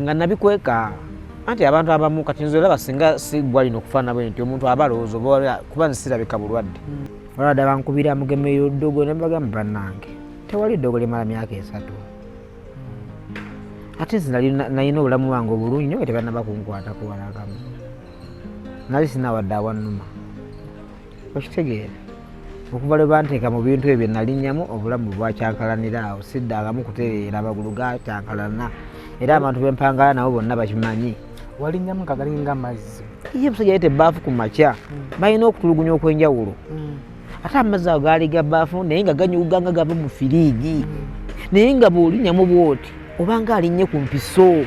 nga nabikweka anti abantu abamu kati nze olaba singa sigwa lino okufaana bwe nti omuntu aba alowooza oba kuba nze sirabika bulwadde hmm. olwada bankubira mugemeyo ddogo ne bagamba bannange tewali ddogo limala myaka esatu ate nze nalina obulamu bwange obulungi nyo nga tebanaba kunkwata kuwalagamu nali sinawadde awanuma okitegeera okuva lwe banteeka mu bintu ebyo nalinyamu obulamu bwakyankalanira awo siddangamu kutereera amagulu gakyankalana era abantu bempangala nabo bonna bakimanyi walinyamu nga galinga amazzi ye musajja yete baafu ku makya hmm. balina okutulugunya okwenjawulo hmm. ate amazzi ago gaali ga baafu naye nga ganyuga nga gava mu firiigi hmm. naye nga bwolinyamu bwoti obanga alinnye ku mpiso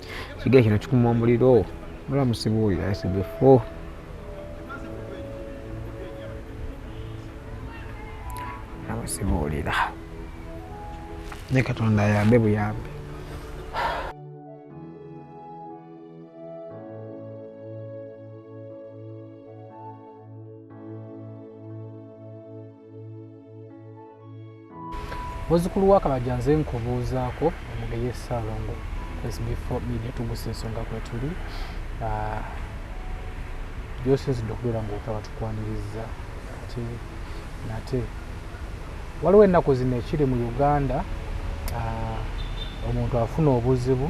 kigere kino kikuma omuliro mula musibuulira esigefo namusibuulira ne katonda ayambe buyambe muzukulu wa kabaja nze nkubuuzaako omugeye saalongo sbfo media tugusa ensonga kwetuli ah, gyosinzidde okubeera ngaotaba tukwaniriza ate nate waliwo ennaku zino ekiri mu uganda ah, omuntu afuna obuzibu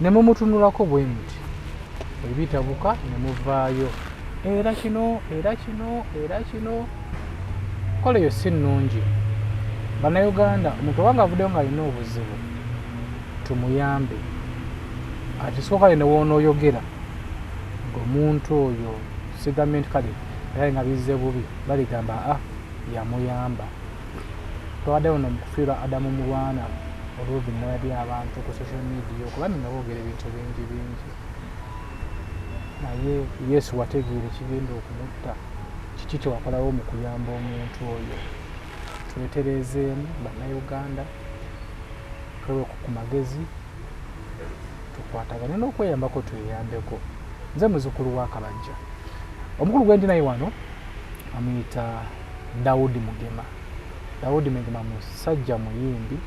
ne mumutunulako bwe muti ebitabuka ne muvaayo era kino era kino era kino Kola eyo si nnungi. Bannayuganda omuntu obanga avuddeyo ng'alina obuzibu tumuyambe. Akisooka ne woonooyogera ng'omuntu oyo sigambye nti kale era nga bizze bubi baligamba a ah, yamuyamba. Twabadde wano mu kufiirwa Adamu Mulwana olw'ovi newali abantu ku social media okuba nno boogera ebintu bingi bingi naye yesu wategeera ekigenda okumutta kiki kyewakolawo mu kuyamba omuntu oyo twetereezeemu bannayuganda tweweku ku magezi tukwatagane n'okweyambako tweyambeko nze muzukulu wa kabajja omukulu gwendi naye wano amuyita dawudi mugema dawudi mugema musajja muyimbi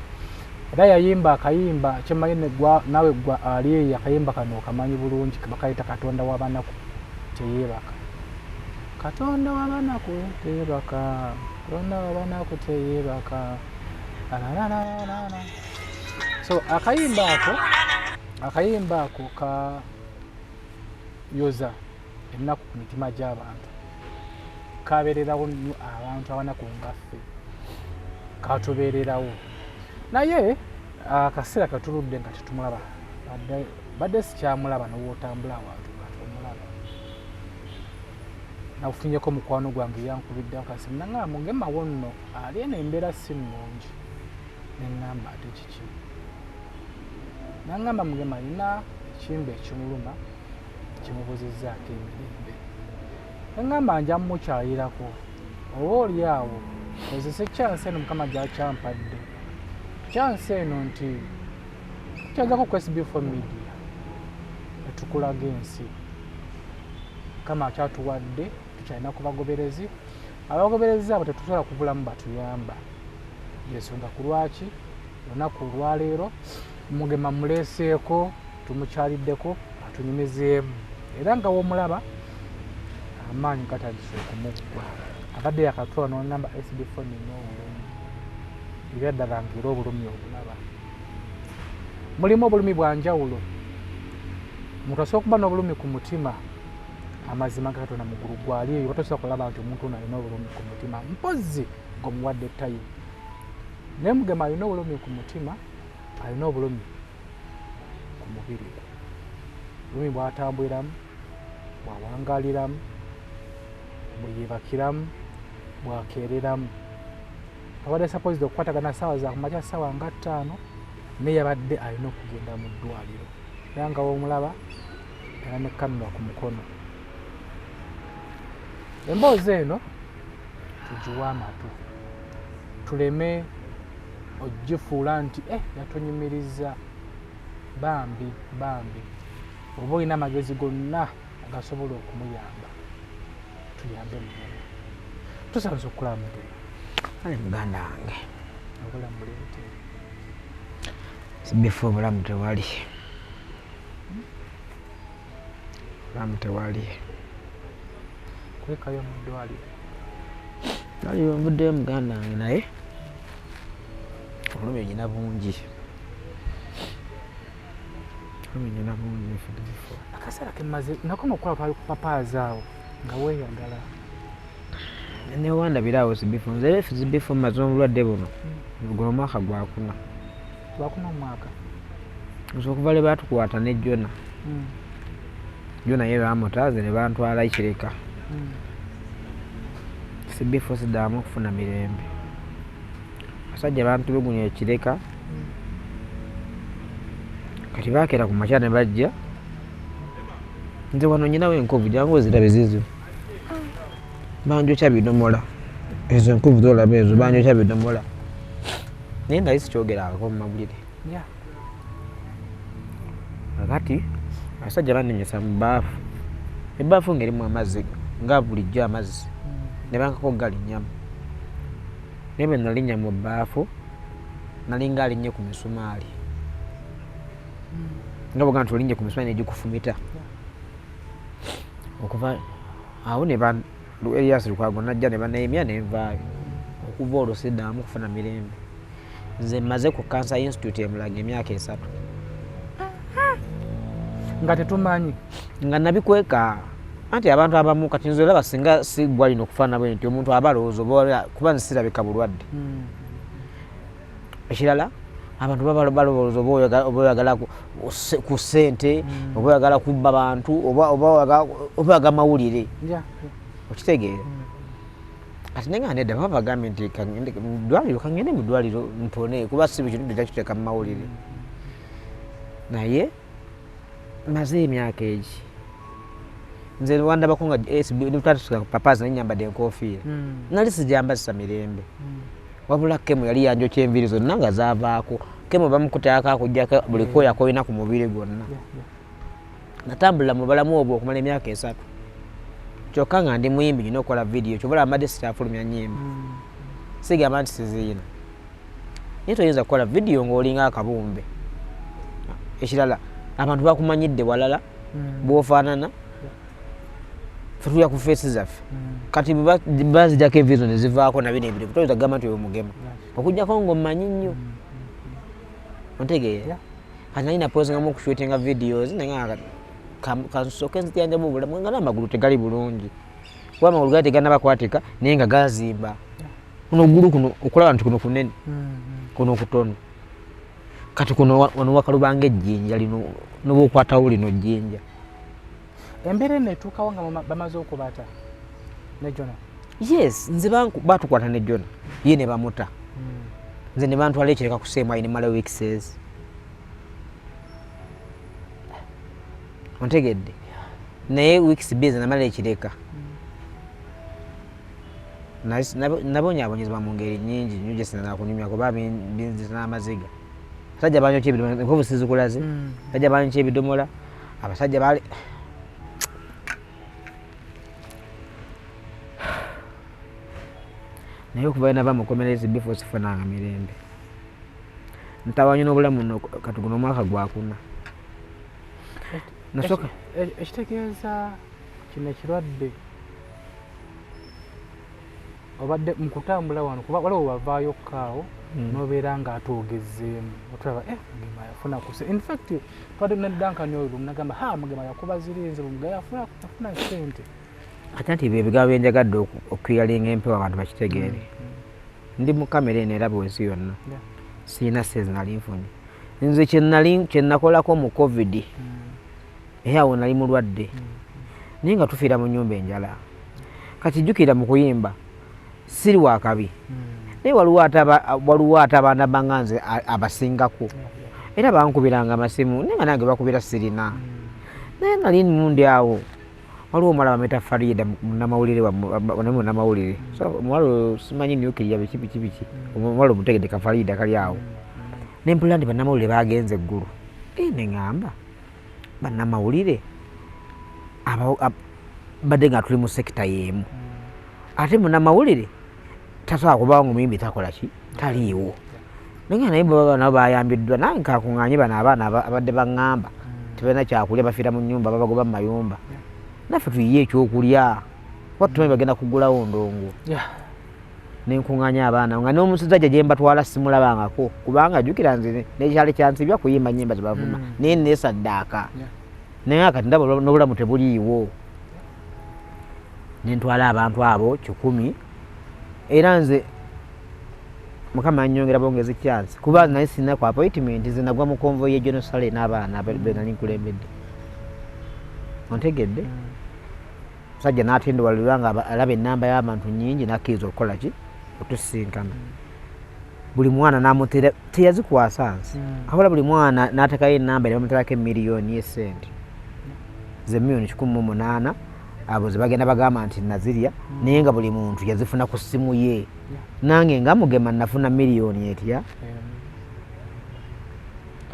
era yayimba akayimba kyemanyi nawe gwa ali eyo akayimba kano okamanyi bulungi bakayita katonda wabanaku teyebaka katonda wabanaku teyebaka katonda wabanaku teyebaka so akayimba ako akayimba ako ka yoza ennaku ku mitima gy'abantu kabeererawo nnyo abantu abanaku ngaffe katubeererawo naye akaseera katuludde nga tetumulaba mbadde sikyamulaba nowotambula awantu omulaba nakufunyeko mukwano gwange yankubidde akasi nangamba mugemawo nno ali eno embeera si nnungi nengamba ate kiki nangamba mugema alina ekimba ekimuluma kimubuzizaako emirembe nengamba nja mumukyayirako oba oli awo kozese kyansi eno mukama gyakyampadde kyansi eno nti kyagako ku sbfo media etukulaga ensi kama akyatuwadde tukyalina ku bagoberezi abagoberezi abo tetusobola kubulamu batuyamba yensonga ku lwaki olunaku olwaleero mugema muleeseeko tumukyaliddeko atunyumizeemu era nga womulaba amaanyi gatandise okumuggwa abadde yakatula nonamba sbfo nina obulumi ebyaddala ngeera obulumi obulaba Mulimu obulumi bwa njawulo. Omuntu asobola okuba n'obulumi ku mutima amazima ga Katonda mugulu gwali eyo batosobola kulaba nti omuntu ono alina obulumi ku mutima mpozzi ng'omuwadde tayimu naye mugema alina obulumi ku mutima alina obulumi ku mubiri gwe obulumi bwatambuliramu bwawangaliramu bweyebakiramu bwakeereramu abadde supposed okukwatagana saawa za kumakya saawa nga ttaano naye yabadde alina okugenda mu ddwaliro era nga womulaba era ne kamera ku mukono emboozi eno tugiwe amatu tuleme ogifuula nti e yatunyumiriza bambi bambi oba olina amagezi gonna agasobola okumuyamba tuyambe mugana tusanze okukulaba mugana ali muganda wange obulamu buleete sibifa obulamu tewali obulamu tewali kwekayo mu ddwaliro ali nvuddeyo muganda wange naye obulumi olina bungi akasala kemaze nakoma okulaba papazaawo nga weyagala newandabiraawo zibifo nze zibifo maze obulwadde buno hmm. guno omwaka gwakuna gwakuna omwaka nze okuva lwe batukwata ne jona hmm. jona ye bamutaze ne bantwala ikireka hmm. sibifo sidamu okufuna mirembe abasajja bantulugunya ekireka kati bakeera ku makya ne bajja nze wano nyinawo enkovu jangu ozirabe zizo banjokya bidomola ezo enkovu zolaba ezo banjokya bidomola naye nali sikyogerako mu mawulire kakati abasajja banenyesa mu baafu ebaafu ngaerimu amazzi nga bulijjo amazzi mm. ne bankako galinyamu naye bwe nalinya mu baafu nalinga alinnye ku misumaali nga bwoga nti olinnye ku misumaali negikufumita okuva awo ne eriyasi lukwago najja ne baneyimya nenvaayo okuva olwo sidaamu kufuna mirembe nze mmaze ku kansa institute emulaga emyaka esatu nga tetumanyi nga nabikweka anti abantu abamu kati nze olaba singa sigwalina okufaanabwe nti omuntu aba alowooza kuba nzisirabika bulwadde hmm. ekirala abantu babalowooza oba oyagala ku ssente hmm. oba oyagala kubba bantu oba oyaga mawulire okitegeera hmm. kati naye nga nedda baba bagambye nti mudwaliro kangende mudwaliro mpone kuba si buli kintu tetakiteeka mu mawulire hmm. naye maze emyaka egi nze wandabako nga twatusuka ku papazi naye nyambadde enkofiira hmm. nali sijambazisa mirembe hmm. wabula kemu yali yanjokya enviiri zonna nga zavaako kemu bamukutayako akujjako buli hmm. kooyo akolina ku mubiri gwonna natambulira mu balamu obwo okumala emyaka esatu kyokka nga ndi muyimbi nyina okukola vidiyo kyobola mbadde sitafulumya nyimba sigamba nti siziyina naye toyinza kukola vidiyo ng'olinga akabumbe ekirala abantu bakumanyidde walala hmm. bwofaanana fetulya ku feesi zaffe hmm. kati bazijako evizo nezivaako nabino ebirivu toyinza kugamba nti oyo mugema okujjako ngaomanyi nnyo hmm. ontegeera kati nalina pozingamu okushootinga videos naye kansoke nzijanjamu obulamu nga n'amagulu tegali bulungi kuba amagulu gali teganaba kwatika naye nga gazimba kuno ogulu kuno okulaba nti kuno kunene mm-hmm. kuno kutono kati kuno wano wakalubanga ejjinja lino noba okwatawo lino jjinja embeera eno etuukawo nga bamaze okubata ne jona yes nze batukwata ne jona ye ne bamuta mm. nze ne bantwala ekireka kuseemu ayi nemala weekses ontegedde naye weeks bize namala ekireka nabonyabonyezebwa mu ngeri nyingi nyo gyesinana kunyumya kuba binzisa n'amaziga abasajja banyokya ebidomola enkovu sizikulaze mm. abasajja banyokya ebidomola abasajja bali naye okuva enava mukomerezi bifo sifunanga mirembe ntawanyo n'obulamu katuguno omwaka gwakuna nasoka ekitegeeza kino ekirwadde obadde mukutambula wano kuba waliwo wavaayo kaawo hmm. nobeera nga ate ogezeemu otulaba eh, mugema yafuna kuse infact twade nedankani oyo lumunagamba ha mugema yakuba zirinze lumugaya afuna sente ate nti byebigambo byenjagadde okuyalinga empewo abantu bakitegeere hmm, hmm. ndi mu kamera eno era bwensi yonna sirina sente nali nfunye nze kyenakolako mu covid naye awo nali mulwadde naye nga tufiira mu nyumba enjala kati jukira mu kuyimba siri wakabi naye waliwo ate abaana banga nze abasingako era bankubiranga amasimu naye nga nange bakubira sirina naye nali mundi awo waliwo omuwala bamwita farida munamawulire naye munamawulire omuwala simanyi nukiriya biki biki biki omuwala omutegedeka farida kali awo nempulira nti banamawulire bagenze eggulu neŋamba bannamawulire badde nga tuli mu sekita yeemu mm. ate munamawulire tasobola kubawo nga omuyimbi takola ki taliiwo naye naye baba nabo bayambiddwa nange kakunganye bano abaana abadde baŋŋamba mm. tebalina kyakulya bafiira mu nyumba babagoba mu mayumba naffe tuyiye ekyokulya kuba tumanyi bagenda kugulawo ndongo nenkunganya abaana nga nomusajja gyembatwala simulabangako kubanga jukira nze nekyali kyansibya kuyimba nyimba zebavuma mm. naye nesaddaaka naye akati ndaba nobulamu tebuliiwo nentwala abantu abo kikumi era nze mukama yanyongera bongezi kyansi kuba naye sina ku appointment nze nagwa mu konvo ye genosale n'abaana benali nkulembedde ontegedde mm. musajja n'atendewalerwa nga alaba ennamba y'abantu nnyingi n'akkiriza okukola ki otusisinkana buli mwana namutera teyazikwasa nsi hmm. ahola buli mwana n'atekayo ennamba ne bamuterako emiliyoni esente ze miliyoni kikumi mu munaana abo ze bagenda bagamba nti nazirya hmm. naye nga buli muntu yazifuna ku ssimu ye nange nga mugema nafuna miliyoni etya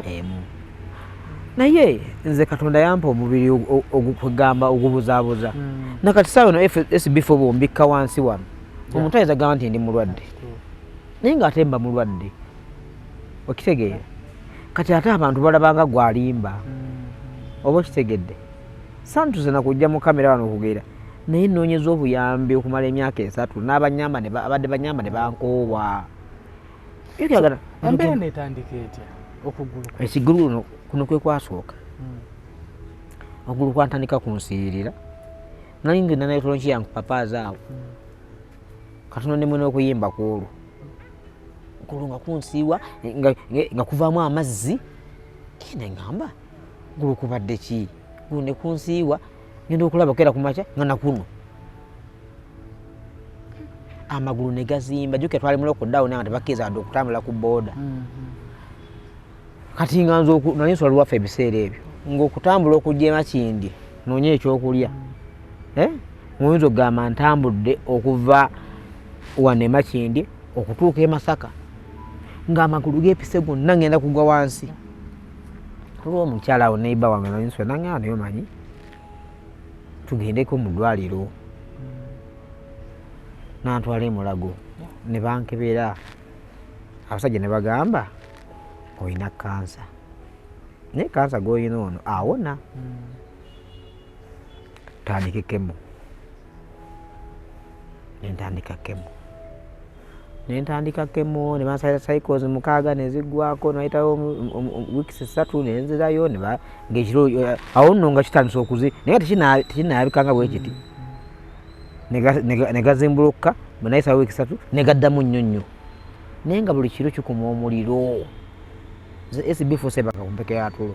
emu naye nze katonda yampa omubiri ogugamba ogubuzabuza hmm. nakati sawa no sbfo bombikka wansi wano omuntu ayinza gamba nti ndi mulwadde naye nga ate mba mulwadde okitegeera kati ate abantu balabanga gwalimba hmm. oba okitegedde santuze nakujja mu kamera wano okugera naye noonyeza obuyambi okumala emyaka esatu n'abanyamba abadde banyamba ne bankoowa ebyagala embeera netandika etya okuguluka ekigulu kuno kuno kwe kwasooka hmm. okugulu kwantandika kunsiirira nali ngenda naye tolonki yange papaazi awo hmm. katono ne mwena okuyimba kwolwo okugulu nga kunsiiwa nga kuvaamu amazzi kene ngamba gulu kubadde ki gulu ne kunsiiwa ngenda okulabako era kumakya nga nakuno amagulu ne gazimba jukira twali mu lockdown nga tebakkiriza wadde okutambula ku booda mm-hmm. kati nga nze nali nsula luwaffe ebiseera ebyo ng'okutambula okujja emakindi noonye ekyokulya mm. eh? muyinza okugamba ntambudde okuva wano emakindi okutuuka e masaka ng'amagulu g'epise gonna ngenda kugwa wansi olwomukyala awo neiba wange nali nsula nange awo naye omanyi tugendeko mu ddwaliro nantwala emulago ne bankebera abasajja ne bagamba olina kansa naye kansa gwolina ono awona tandikekemu nentandika kemu nentandika kemu nebansabira cycles mukaaga neziggwako nayitawo weeks ssatu nenzirayo ngekiro awo nno nga kitandisa okuzi naye tekinayabikanga bwekiti negazimbulukuka bwenayitawo weeks satu negaddamu nnyo nnyo naye nga buli kiro kikuma omuliro sbfusebaka kumpeke yatulo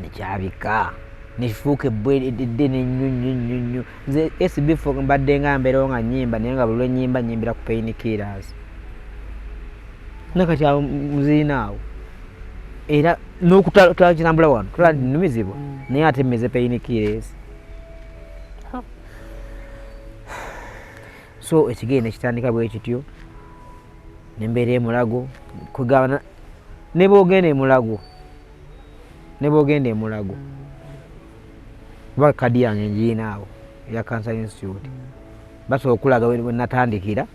nekyabika nekifuuka ebbwa eddene ennyo nnyo nnyo nnyo nze sbf mbadde nga mbeerawo nga nyimba naye nga buli lwenyimba nyimbira ku pain killers nakati awo muziina awo era nokutalakinambula wano tulaa mm. numizibwa mm. naye ate mmeze pain killers so ekigendo ekitandika bwekityo nembeera emulago kugabana nebwogenda emulago nebwogenda emulago kuba kadi yange ngiinaawo eya cancer institute basobola okulaga wenatandikira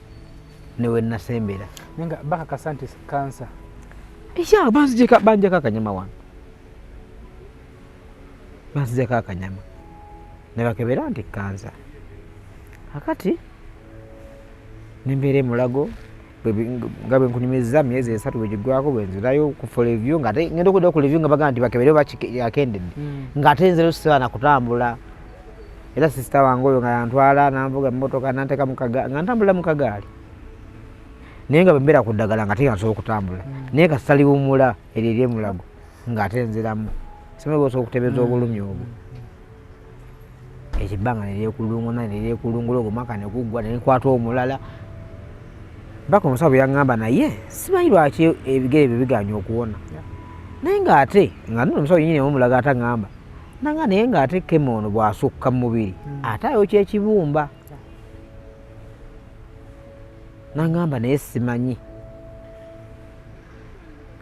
newenasembera nga bakakasa nti kansa ya banzijeko banjako akanyama wange banzijako akanyama nebakebera nti kansa akati nembeera emulago nga bwenkunyumizza myezi esatu bwegigwako bwenzirayo kufa levyu ngaate ngenda okudda ku levyu nga bagamba nti bakebere bakendedde hmm. ngaate nzirayo sisaana kutambula era sisita wange oyo nga yantwala nanvuga emotoka nanteka nga ntambulira mu kagaali naye nga bwembeera ku ddagala nga tega nsobola okutambula hmm. naye nga saliwumula eryo eryemulago ngaate nziramu simae osobola okutebeeza hmm. obulumi obwo ekyo ebbanga neryekulunguna neryekulungula ogwo mwaka neguggwa nenkwata omulala baka omusawo bweyaŋŋamba naye simanyi lwaki ebigere byo biganya okuwona naye ng'ate nga nno omusawo yenyini omulaga ate aŋŋamba nanga naye ng'ate kema ono bw'asukka mu mubiri hmm. ate ayo kyekibumba naŋŋamba naye simanyi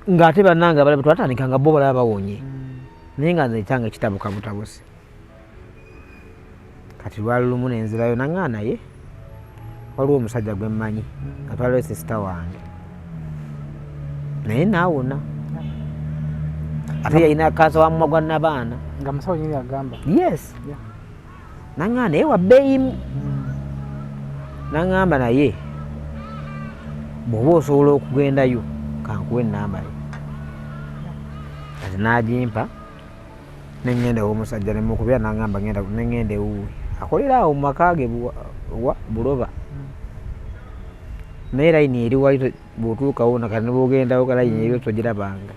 ng'ate bannange abalabe twatandika nga bo balaba bawonye mm. naye nga nze ekyanga kitabuka butabusi kati lwali lumu nenzirayo naŋaa naye waliwo omusajja gwe mmanyi nga mm. twaliwo sisita wange naye naawona ate yalina kansa wa mumwa gwa nabaana nga musawo nyini agamba yes yeah. naŋŋamba naye wabbeeyimu naŋŋamba naye bw'oba osobola okugendayo kankuwa ennamba yo kati n'agimpa neŋŋenda ew'omusajja ne mukubira naŋŋamba ŋenda neŋŋenda ewuwe akolera awo mu maka ge wa buloba naye layini eri wali bw'otuukawo nakati ne bw'ogendawo ka layini eri togirabanga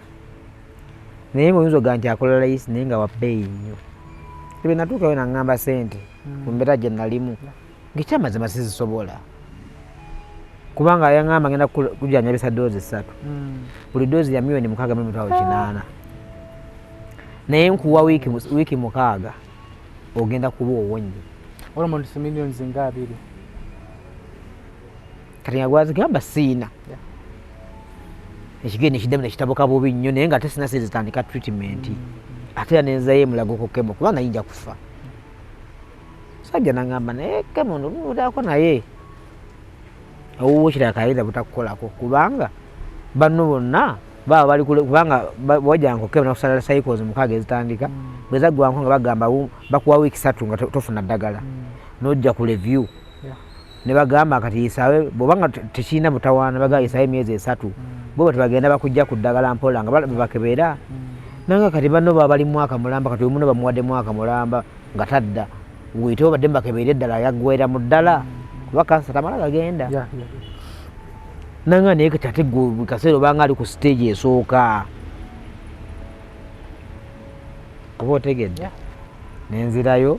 naye nga oyinza ogaa nti akola layisi naye nga wabbeeyi nnyo ebe natuukayo naŋŋamba sente hmm. ku mbeera gye nalimu ngaekyamazima sizisobola kubanga yaŋŋamba ngenda kujanyabisa doozi ssatu hmm. buli doozi ya milioni mukaaga mu mitwalo kinaana naye nkuwa wiiki mukaaga ogenda kuba owonye olwo muntu si milioni zinga abiri kati nga gwazigamba siina ekigere nekiddamu nekitabuka bubi nnyo naye nga ate sina sente zitandika treatment mm. ate era nenzayo emulago ku kemo kuba nayinja kufa sajja nangamba naye kemo ndunuudako naye owuwo kirala kayinza butakukolako kubanga banno bonna baba bali kubanga wajanko kemo nakusala cycles mukaaga ezitandika mm. bwezaggwanko nga bagamba bakuwa wiiki satu nga tofuna ddagala mm. nojja ku review ne bagamba kati yisaawe bwoba nga tekirina mutawaana bagamba yisaawe emyezi esatu mm. bweba tebagenda bakujja ku ddagala mpola nga bebakebeera mm. nanga kati banno baba bali mwaka mulamba kati omuno bamuwadde mwaka mulamba nga tadda wuyite obadde mubakebeera eddala yaggwera mu ddala mm. kuba kansa tamala gagenda nanga naye kati ate kaseera obanga ali ku siteegi esooka oba otegedde nenzirayo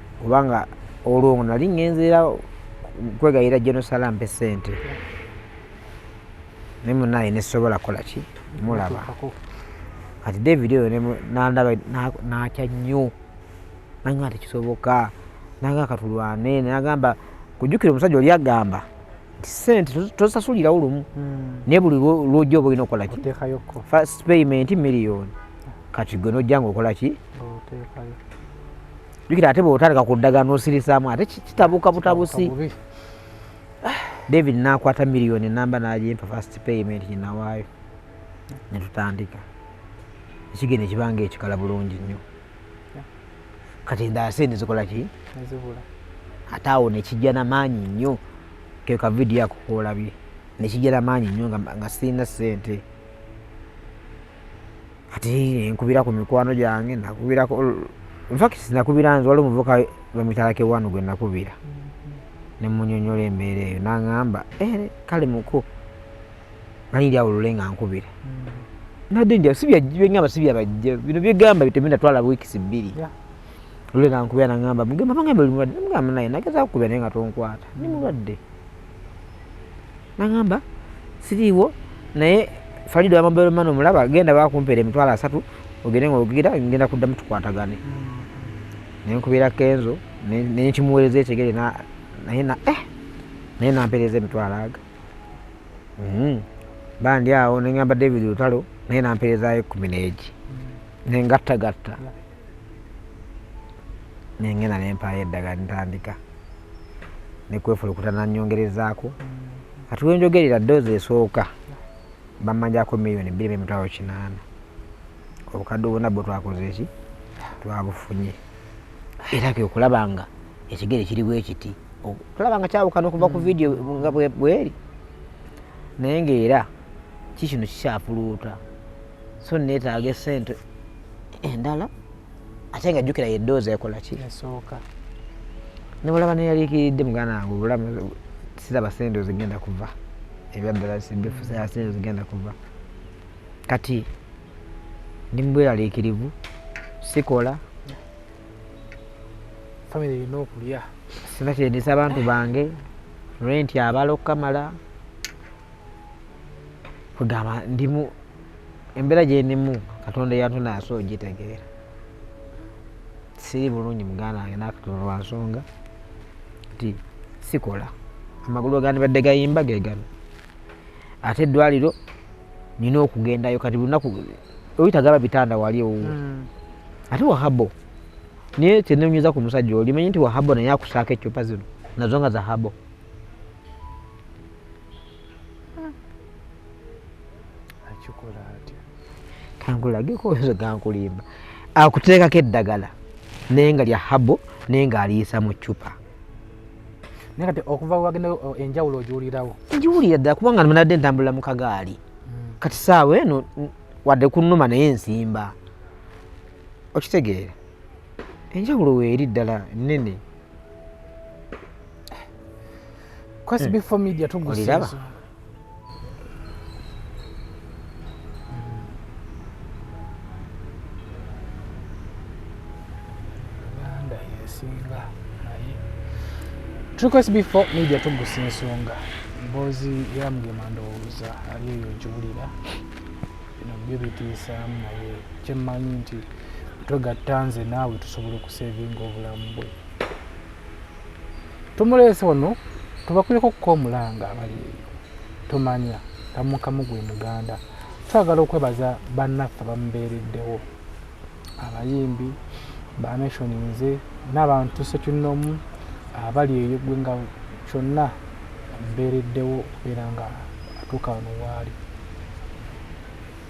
oba nga olwo nga nali ŋŋenzeera kwegayira genosala mpe ssente naye munaye nesobola kukola ki mulaba kati david oyo nandaba nakya nnyo nanga tekisoboka nanga katulwane nagamba kujukira omusajja oli agamba nti sente tosasulirawo lumu hmm. naye buli lwoja oba olina okukola ki first payment million kati gwe nojja nga okola ki jukira ate bwotandika ku ddagala nosirisaamu ate kitabuka butabusi david nakwata miliyoni enamba nagimpa fast payment ginawaayo netutandika ekigenda ekibanga ekikala bulungi nnyo kati endase nezikola ki ate awo nekijja namaanyi nnyo keka vidiyo ako kolabye nekijja namaanyi nnyo nga sirina sente ate nkubira ku mikwano gyange nakubirako infact nakubira nze waliwo omuvuka bamwitalake wano gwe nakubira mm-hmm. nemunyonyola embeera eyo nangamba eh, kale muku mani ndi awulule nga nkubira mm-hmm. nadde nja sibyengamba sibyabajja bino byegamba bitemenda twala wiikisi bbiri lule nankubira nangamba mugamba bangambe oli mulwadde namugamba naye nagezaku kubira naye nga tonkwata ndi mm-hmm. mulwadde nagamba siriiwo naye falido yamobero mani omulaba genda bakumpeera emitwalo asatu ogende nga ogira ngenda kuddamu tukwatagane hmm. nenkubeera kenzo nenkimuweereza ekyegere naye na eh naye nampeereza emitwalo aga hmm. bandi awo nengamba david lutalo naye nampeerezayo ekumi neegi hmm. nengattagatta nengenda nempaayo eddagala ntandika nekwefulukuta nanyongerezaako kati wenjogerera doozi esooka bamanyako miliyoni bbiri bemitwalo kinaana obukadde obuna bwe twakoze eki twabufunye era ke okulaba nga ekigere kiri bwekiti okulaba nga kyawukana okuva ku mm. vidiyo nga bweri naye ngaera kikino kikyafuluuta so neetaaga esente endala ate nga jjukira ye doozi ekola ki esooka ne bwolaba neyaliikiridde muganda wange obulamu siraba sente zigenda kuva ebyaddala sibifusaya sente zigenda kuva kati ndi mubweraliikirivu sikola famire erina okulya sina kyendisa abantu bange renti abala okukamala kwegamba ndimu embeera gyendimu katonda eyantunaasa ogitegeera siri bulungi muganda wange nakatono lwa nsonga nti sikola amagulu agandibadde gayimba gegano ate eddwaliro nina okugendayo kati lunaku oyitagaba bitanda wali owuwo hmm. ate wahabo naye kyenonyeza ku musajja oli manyi nti wahabo naye akusaako ecupa zino nazo nga zahabo akikola atya kankulageko oyoza gankulimba akuteekako eddagala naye nga lya habo naye nga aliisa mu cupa naye kati okuva wagenda enjawulo ogiwulirawo ngiwulira ddala kubanga nabadde ntambulira mu kagaali hmm. kati saawa eno wadde kunuma naye nsimba okitegeera enjawulo weeri ddala nene Quest hmm. before media tugusiza. Request before media tugusa ensonga mboozi yamugema ndowooza ali eyo nkiwulira bino byo bitiisaamu naye kyemmanyi nti twegatta nze naawe tusobola okusevinga obulamu bwe tumuleese wano tubakuleko okuka omulanga abali eyo tumanya tamukamu gwe muganda twagala okwebaza bannaffe bamubeereddewo abayimbi banationi nze n'abantu sekinnomu abali eyo gwe nga kyonna amubeereddewo okubeera nga atuuka wano waali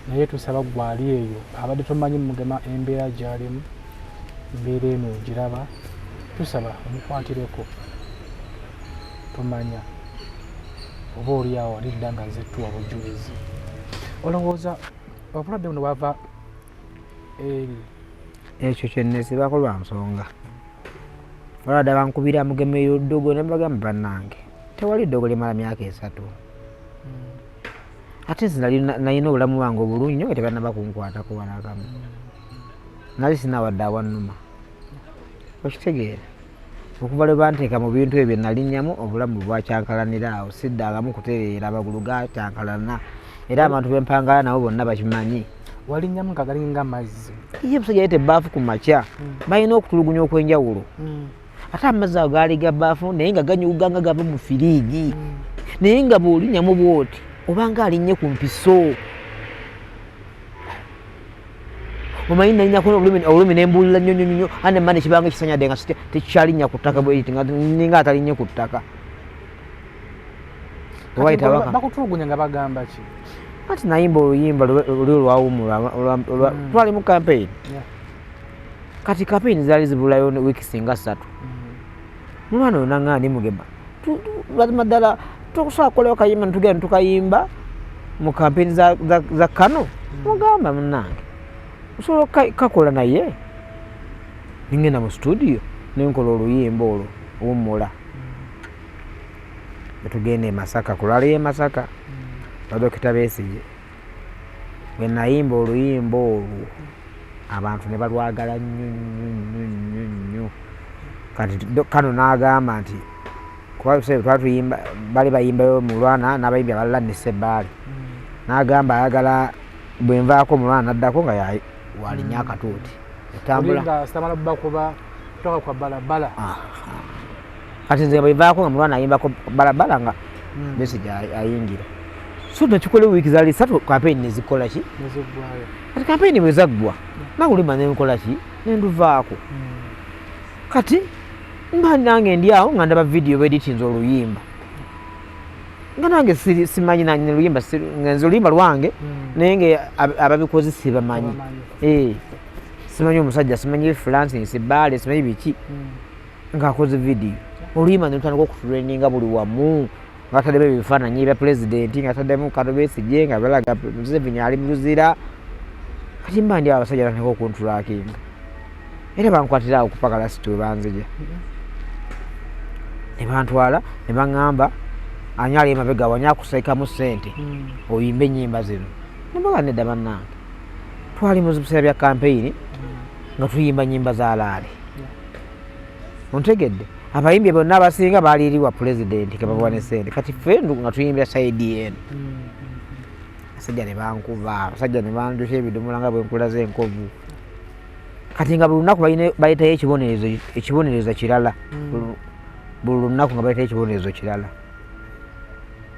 naye tusaba gwali eyo abadde tomanyi mugema embeera gyalimu embeera eno ogiraba tusaba omukwatireko tomanya oba oli awo alidda nga nzettuwa bujulizi olowooza obulwadde buno bwava eri ekyo kyenezibako lwa nsonga olwada bankubira mugema eyo ddogo ne bagamba bannange tewali ddogo limala myaka esatu ate nze nalina obulamu bwange obulungi nyo tebanaba kunkwatako banakamu nali sinawadde awanuma okitegeera okuva lwe banteeka mu bintu ebyo nalinyamu obulamu bwakyankalanira awo siddangamu kutereera amagulu gakyankalana era abantu bempangala nabo bonna bakimanyi walinyamu nga galinga amazzi ye busajja yete baafu ku makya hmm. balina okutulugunya okwenjawulo hmm. ate amazzi ago gaali ga baafu naye nga ganyuga nga gava mu firiigi mm. naye nga bw'olinyamu bw'oti obanga alinnye ku mpiso omanyi nalinako obulumi nembuulira nnyo nyonyonyo ane mane kibanga ekisanyadde nga tekikyalinnya ku ttaka bwekiti ninga atalinnye ku ttaka bakutulugunya nga bagamba ki kati nayimba oluyimba luli olwawumula mm. twalimu kampeyini kati kapini zali zibulayo wiki singa satu mm-hmm. mwana oyo nangana nimugema mazima ddala tokusobola kukolewo kayimba netugenda netukayimba mu kampeni za, za, za kano mm-hmm. mugamba munange osobola kakola naye ningenda mu studio nenkola oluyimba olwo wumula mm-hmm. netugenda emasaka kulala emasaka badokita besije bwe nayimba oluyimba olwo abantu ne balwagala nnyo nnyo nnyo nnyo nnyo kati kano n'agamba nti kuba biseera twali tuyimba bali bayimbayo mu lwana n'abayimbi abalala ne sebbaali mm. n'agamba ayagala bwe nvaako mu lwana naddako nga walinya mm. akatuuti etambula kati nze bwevaako nga mulwana ayimbako balabala nga hmm. besige ayingira so nekikola wiiki zali satu kampeyini nezikola ki kati kampeyini bwezaggwa hmm. nakulima nenkola ki nenduvaako hmm. kati mba nange ndi awo nga ndaba vidiyo beditinza oluyimba nga nange simanyi nanye luyimba nze oluyimba lwange naye nga ababikozi sibamanyi eh, simanyi omusajja simanyi freelancing sibaale simanyi biki ng'akoze vidiyo oluyimba ne lutandika okutuleninga buli wamu ng'ataddemu ebifaananyi ebya pulezidenti ng'ataddemu katobesigye nga balaga museveni ali mu luzira kati mba ndi abasajja natandika okuntulakinga era bankwatira awo kupakala situ we banzija ne bantwala ne baŋŋamba ani ali emabega wani akusekamu ssente hmm. oyimba ennyimba zino nembaga nedda bannange twali mu biseera bya kampeyini hmm. nga tuyimba nnyimba za laale ontegedde abayimbi bonna abasinga baliiriwa pulezidenti kebabawa ne sente kati fe nga tuyimbira saidi eno abasajja ne bankuba abasajja ne banjusa ebidomola nga bwenkulaza enkovu kati nga buli lunaku baletayo ekibonerezo ekibonerezo kirala hmm. buli lunaku nga baletayo ekibonerezo kirala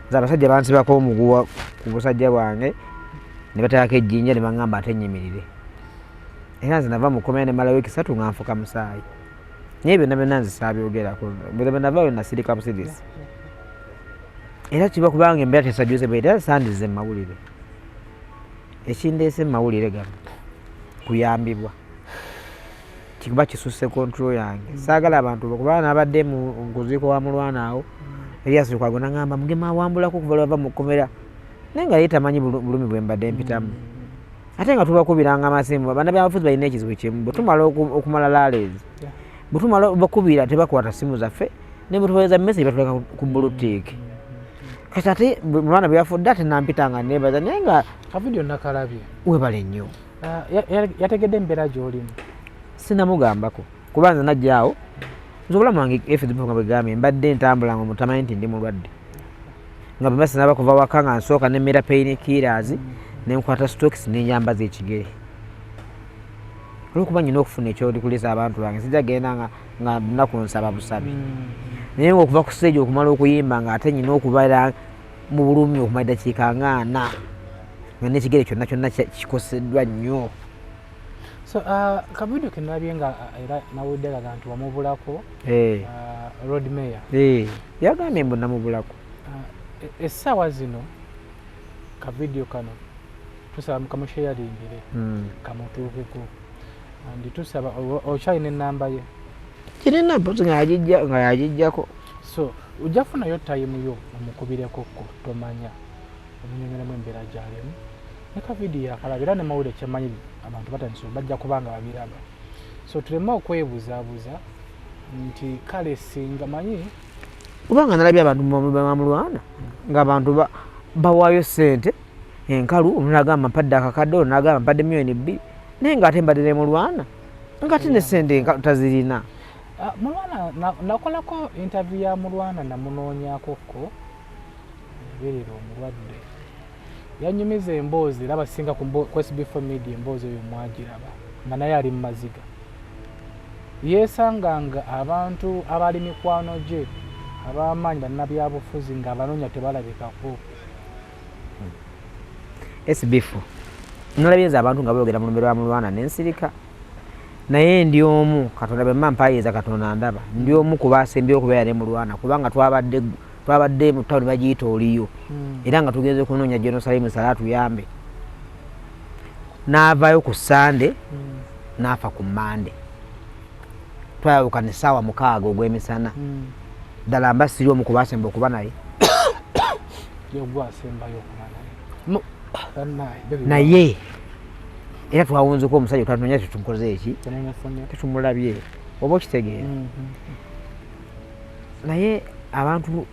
nze abasajja bansibako omuguwa ku busajja bwange ne batayako ejjinja ne baŋŋamba ate nnyimirire era nze nava mukomera nemala wiiki satu nga nfuka musaayi naye byonna byonna nze saabyogerako bwenava we nasirika busirisi era kiba kubanga embeera tesajuze bwe era sandize mu mawulire ekindeese mu mawulire gano kuyambibwa kikuba kisusse kontrol yange saagala abantu kubanga nabadde mu nkuziiko wa mulwana awo eryasirikwago nagamba mugema awambulako okuva lwava mu kkomera naye nga ye tamanyi bulumi bwe mbadde mpitamu mm. ate nga tubakubiranga amasimba bana byabafuzi balina ekizibu kimu bwetumala okumala laleezi bwetumala bakubira tebakwata simu zaffe nebwetubaeza message batuleka ku bulutiiki kati ate mwana bweyafudde ate nampita nga nebaza naye nga kavidio nakalabye webale nnyo ah, yategedde embeera gyolimu sinamugambako kuba nze najja awo nze obulamu wange efizibwa nga bwegambye mbadde ntambula nga omutamanyi nti ndi mulwadde nga bwemba sinaba kuva waka nga nsooka nemmera peyini kiiraazi nenkwata stokisi nenyambaza ekigere olwokuba nyina okufuna ekyolikulisa abantu bange sijja genda nga naku nsaba busabi hmm. naye nga okuva ku siteegi okumala okuyimba nga ate nyina okubeera mu bulumi okumala eddakiika nga ana nga nekigere kyonna kyonna kikoseddwa nnyo so uh, kavidio kenalabye nga uh, era nawulidde kaga nti wamubulako eh. uh, road mayor eh. yagambye mbu namubulako e, essaawa zino kavidio kano tusaba mukamusheyalingire hmm. kamutuukeko ndi tusaba okyalina enamba ye kirina mpozi nga yagijjako so ojja funayo tayimu yo omukubireko ko tomanya omunyumiremu embeera gyalimu ne kavidiyo akalaba era ne mawulire kyemanyi abantu batandise bajja kuba nga babiraba so tuleme okwebuzabuza nti kale singa manyi kubanga nalabye abantu bamulwana ngaabantu bawaayo sente enkalu omunagamba mpadde akakadde onagamba mpadde miliyoni bbiri naye ngaate mbadde nemulwana ngate ne sente enkalu tazirina ah, mulwana nakolako interview ya mulwana namunoonyakokko Berera omulwadde yanyumiza emboozi era abasinga ku SB4 media emboozi oyo mwagiraba nga naye ali mu maziga yeesanga nga abantu abaali mikwano gye ab'amaanyi bannabyabufuzi ng'abanoonya tebalabikako hmm. sbf nolabye nze abantu nga boogera mu lumbe lwa mulwana nensirika naye ndi omu katonda bemba mpayiza katonda ndaba ndi omu ku baasembyeyo okubeera ne mulwana kubanga twabadde twabadde mu tawuni bagiyita oliyo hmm. era nga tugenze okunoonya jenosalimu sala tuyambe n'avaayo ku sande hmm. n'afa ku mande twayawukana essaawa mukaaga ogw'emisana hmm. ddala mba siri omu ku baasemba okuba naye naye era twawunzeko omusajja twatunonya tetumukoze eki tetumulabye oba okitegeera mm, mm, mm. naye abantu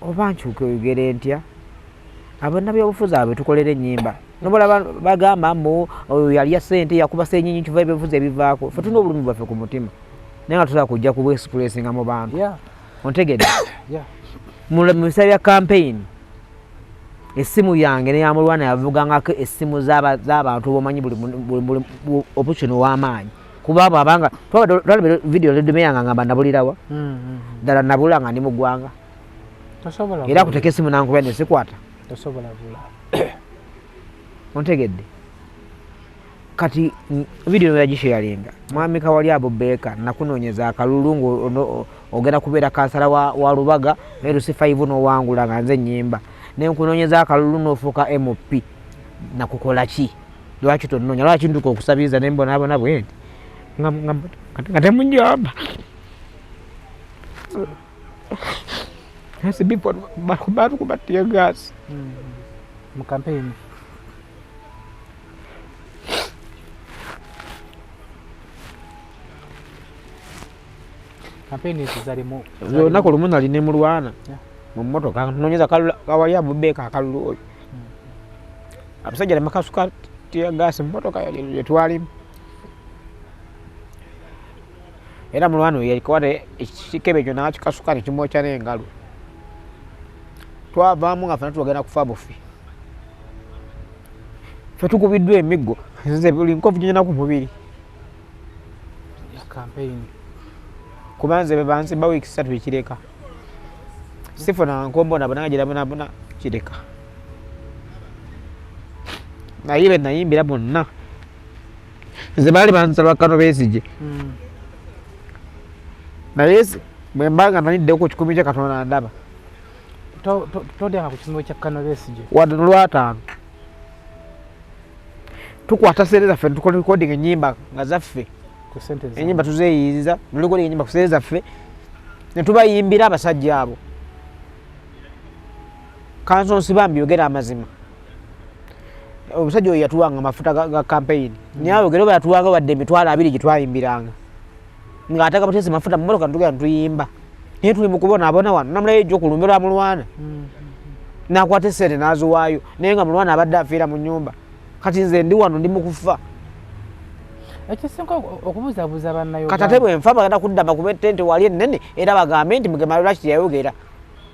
oba nkyuka oyogere ntya abana byobufuzi abo tukolera enyimba nobola bagamba mbu oyo yalya sente yakuba senyinyi kiva ebivuzi ebivaako fe tulina obulumi bwaffe ku mutima naye nga tusobola kujja kubwesikulesinga mu bantu ontegedde mu biseera bya kampeyini essimu yange neyamulwana yavugangako essimu z'abantu bomanyi buli option ow'amaanyi kuba abo abanga twalaba vidiyo ledume yange ngamba nabulirawa hmm, hmm, hmm. ddala nabula nga ndi mu ggwanga era kuteka essimu nankuba nesikwata ontegedde kati video yagisharinga mwami kawali abo beka nakunonyeza akalulu ngo ogenda kubeera kansala wa, wa lubaga naye lusifa ivu nowangula nga nze nyimba naye nkunonyeza akalulu nofuuka mop nakukola ki lwaki tononya lwaki nduka okusabiriza nembonaabona bwendi nga temunjamba Kasi before baru baru kubatia gas. Hmm. Mkampeni. olunaku lumu nali ne mulwana mu mmotoka nonyeza kawali abubeeka akalulu oyo hmm. abasajja namakasuka tiyagaasi mu mmotoka yetwalimu era mulwana oyo yakwata ekikebe ekyo nakikasuka nekimwokya n'engalo twavaamu nga fena tugenda kufa bufi fe tukubiddwa emiggo nze buli nkovu gyonyina ku mubiri campaign kuba nze bebansi ba wiiki satu ekireka sifuna nkombo nabonanga gyerabonabona kireka naye be nayimbira bonna nze baali bansaba kano besigye hmm. naye bwembanga naniddeku kikumi kya katonda ndaba todyanga ku kisumiro kya kano besigye wadde nolwataano tukwata sente zaffe netukola recording enyimba nga zaffe enyimba tuzeyiiza norecording enyimba ku sente zaffe netubayimbira abasajja abo kanso nsibambi yogera amazima omusajja oyo yatuwanga amafuta ga kampeyini mm. naye ayogere oba yatuwanga wadde emitwalo abiri gyetwayimbiranga nga ataka butese mafuta mu motoka ntugenda tuyimba naye tuli mukubona abona wano namulayo ejja okulumbirwa mulwana mm-hmm. nakwata esente naziwaayo naye nga mulwana abadde afiira mu nyumba kati nze ndi wano ndi mukufa ekisinga okubuzabuza banayo kati ate bwenfa bagenda kuddama kuba etente wali ennene era bagambe nti mugemalolaki teyayogera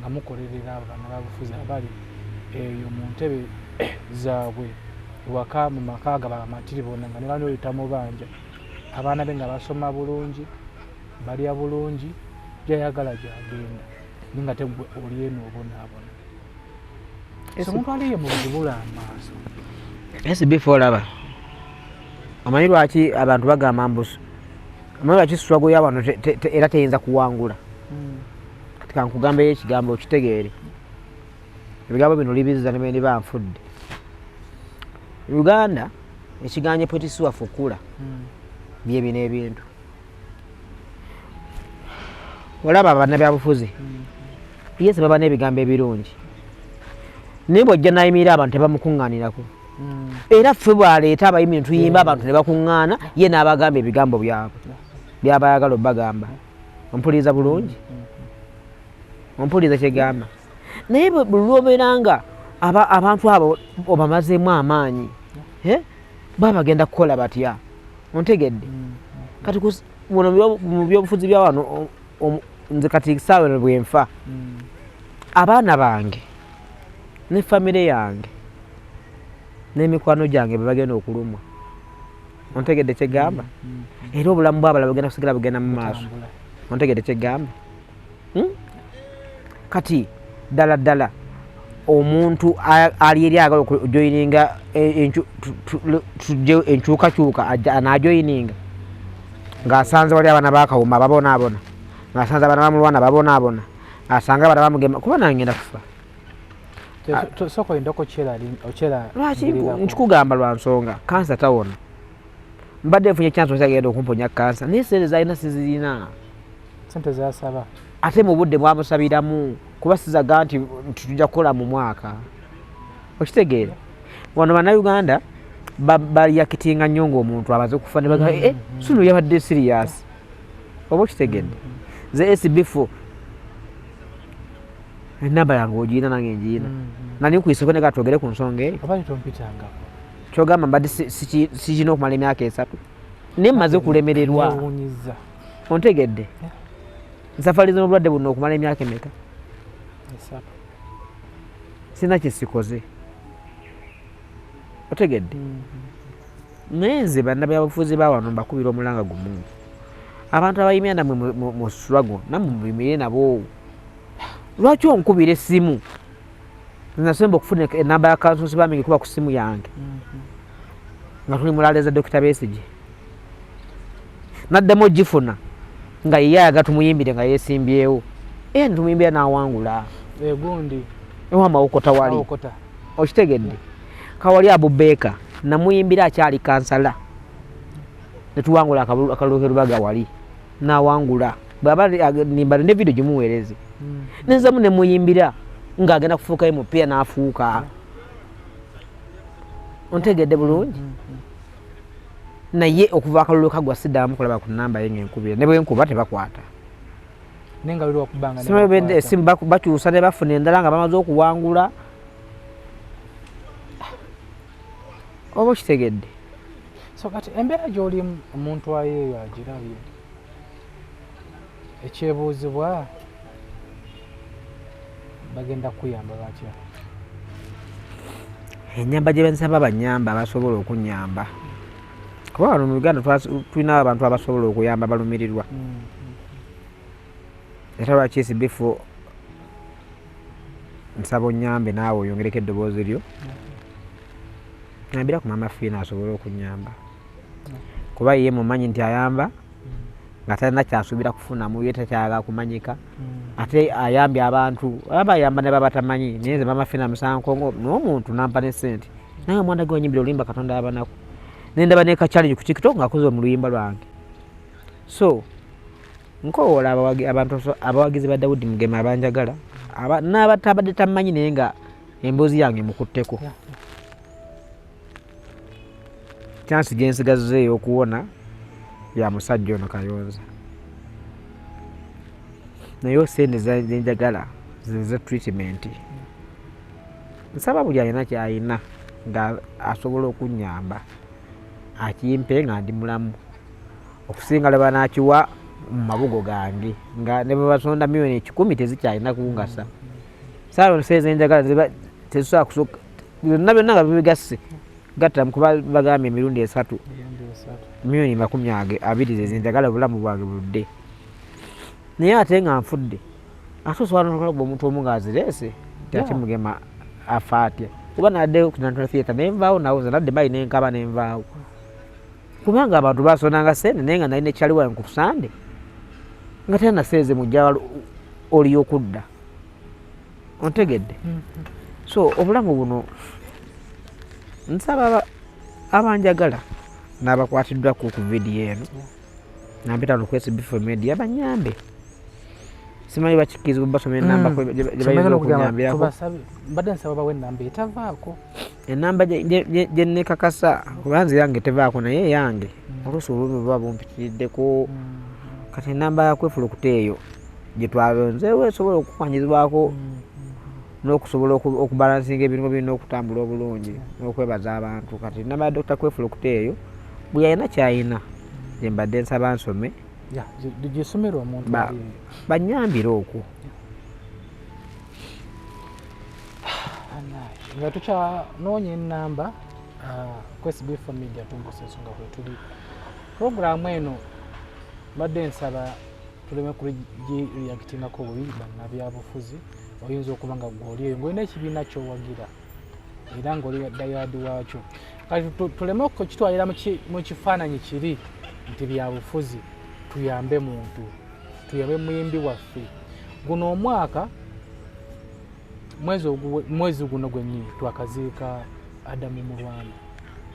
nga mukolerera abo banababufuzi abali eyo mu ntebe zaabwe ewaka mu maka ga bamatiri bona nga nebano oyita mu banja abaana be nga basoma bulungi balya bulungi gyayagala gyagenda ni nga tegwe oli eno obonaabona omuntu aliye mu buzibula amaaso esi before olaba omanyi lwaki abantu bagamba mbusu omanyi lwaki swago yawano era teyinza kuwangula kati kankugambeyo ekigambo okitegeere ebigambo bino libizza ne beniba nfudde uganda ekiganye pwetisiwa fukula hmm. byebino ebintu olaba abana byabufuzi hmm. yese baba n'ebigambo ebirungi naye bwojja nayimira abantu tebamukuŋŋaanirako hmm. era ffe bwaleeta abayimi ntuyimba abantu ne bakuŋŋaana ye n'abagamba ebigambo byabwe byabayagala obagamba ompuliriza bulungi ompuliriza kyegamba naye bulwobeera nga abantu abo obamazeemu amaanyi baba bagenda kukola batya ontegedde mm. kati muno mu byobufuzi bya wano nze kati saawe bwenfa mm. abaana bange ne famire yange n'emikwano gyange bebagenda okulumwa ontegedde kyegamba mm, mm. era obulamu bwabala bugenda kusigala bugenda mu maaso ontegedde kyegamba hmm? kati ddala ddala omuntu ali eri agala okujoyininga e, tujeo enkyukakyuka anajoyininga ng'asanze wali abaana bakawuma babonaabona ng'asanze abaana bamulwana babonaabona asanga abaana bamugema kuba nangenda kufa soka oyinda okukyera lwaki nkikugamba lwa nsonga kansa tawona mbadde nfunye kyansi okyagenda okumponya kansa naye sente zalina sizirina sente zasaba ate mu budde bwamusabiramu kuba sizaga nti tujja kukola mu mwaka okitegeera wano bannayuganda baliyakitinga nnyo ngaomuntu abaze okufa ne bagaa mm-hmm. eh, sunu yabadde siriyasi oba okitegedde mm-hmm. ze esibifo enamba yange ogirina nange ngirina mm-hmm. nani nkuyiseko nega twogere ku nsonga eyo kyogamba mbadde sikirina okumala emyaka esatu naye mmaze okulemererwa ontegedde nsafali z'obulwadde buno okumala emyaka emeka sirina kyesikoze otegedde mm-hmm. naye nze bannabyabufuzi bawano mbakubira omulanga gumu abantu abayimira namwe mu swago namwe mubimire naboowo lwaki onkubira essimu nasemba okufuna enamba ya kansonsi bambi ngekuba ku ssimu yange mhm. nga tuli mulaleeza dokita besigi naddemu ogifuna nga yeye ayaga tumuyimbire nga yesimbyewo e eh, tumuyimbira nawangula egundi ewamawokota wali okitegedde kawali abubeeka namuyimbira akyali kansala netuwangula akalulu kerubaga wali nawangula bwaba nimba ne video gimuweereze mm. nenzamu nemuyimbira ng'agenda kufuuka emupiira n'afuuka ontegedde bulungi mm, mm, naye okuva akalulu kagwa siddamu kulaba ku namba ye ngaenkubira ne bwenkuba tebakwata esimu bakyusa ne bafuna endala nga bamaze okuwangula oba okitegedde so kati embeera gyolimu omuntu ayeeyo agirabye ekyebuuzibwa bagenda kukuyamba batya enyamba gye bensaba banyamba basobola okunyamba kuba wano mu uganda tulinawo abantu abasobola okuyamba balumirirwa mm, mm, mm. era lwaki esibifu nsaba onyambe naawe oyongereko eddoboozi lyo nambira ku maama fiina asobole okunyamba kuba ye mumanyi nti ayamba nga talina kyasuubira kufunamu ye takyaga kumanyika hmm. ate ayambye abantu aba ayamba ne babatamanyi naye nze maama fiina musankongo n'omuntu nampa ne sente naye omwana ge wanyimbira olimba katonda abanaku nendaba nekachalingi ku tiktok ngaakoze mu luyimba lwange so nkowoola abantu abawagizi ba dawudi mugema abanjagala n'abatabadde tammanyi naye nga emboozi yange mukutteko kyansi gye nsigazza ey'okuwona ya musajja ono kayonza naye sente zenjagala zeze treatment nsaba buli alina kyalina nga asobola okunyamba akimpe nga ndi mulamu okusinga laba nakiwa mu mabugo gange nga ne bwebasonda milioni ekikumi tezikyalina kungasa salon says enjagala tezisobola kusoka byonna byonna nga bibigasse gatta kuba bagambye emirundi esatu milioni makumi age abiri zezenjagala obulamu bwange buludde naye ate nga nfudde ate osobola nokulaga omuntu omu nga azireese takimugema afa atya kuba nadde ku national theatre nenvaawo nawo nze nadde mayi nenkaba nenvaawo kubanga abantu basonanga sente naye nga nalina ekyali wange kutusande nga tena naseeze mujja oli okudda ontegedde mhm. so obulamu buno nsaba abanjagala nabakwatiddwaku ku vidiyo eno nampita nokwesa bifo media banyambe simanyi bakikkirizibwa basoma enamba mm. gyebayinza okunyambirako mbadde nsaba bawe enamba etavaako enamba gyenekakasa kuba nze yange tevaako naye eyange oluusi olumi buba bumpitiriddeko hmm. kati enamba yakwefulukuta eyo gyetwalonzeewo esobola okukwanyizibwako hmm. n'okusobola okubalansinga ebirimu birina okutambula obulungi n'okwebaza abantu kati enamba ya dokita kwefulukuta eyo buli alina kyalina gyembadde nsaba nsome gyesomera omuntu banyambire okwo nga tukyanoonya enamba ah, kwesibfa media tumbusa ensonga kwetuli puroguramu eno mbadde nsaba tuleme kugireactingako bubi banabyabufuzi oyinza okuba nga gwoli eyo ngaolina ekibiina kyowagira era ngaoli dayadi waakyo kati tuleme okukitwalira mu kifaananyi kiri nti byabufuzi tuyambe muntu tuyabe muyimbi waffe guno omwaka mwezi guno gwenyini twakaziika adamu mu rwanda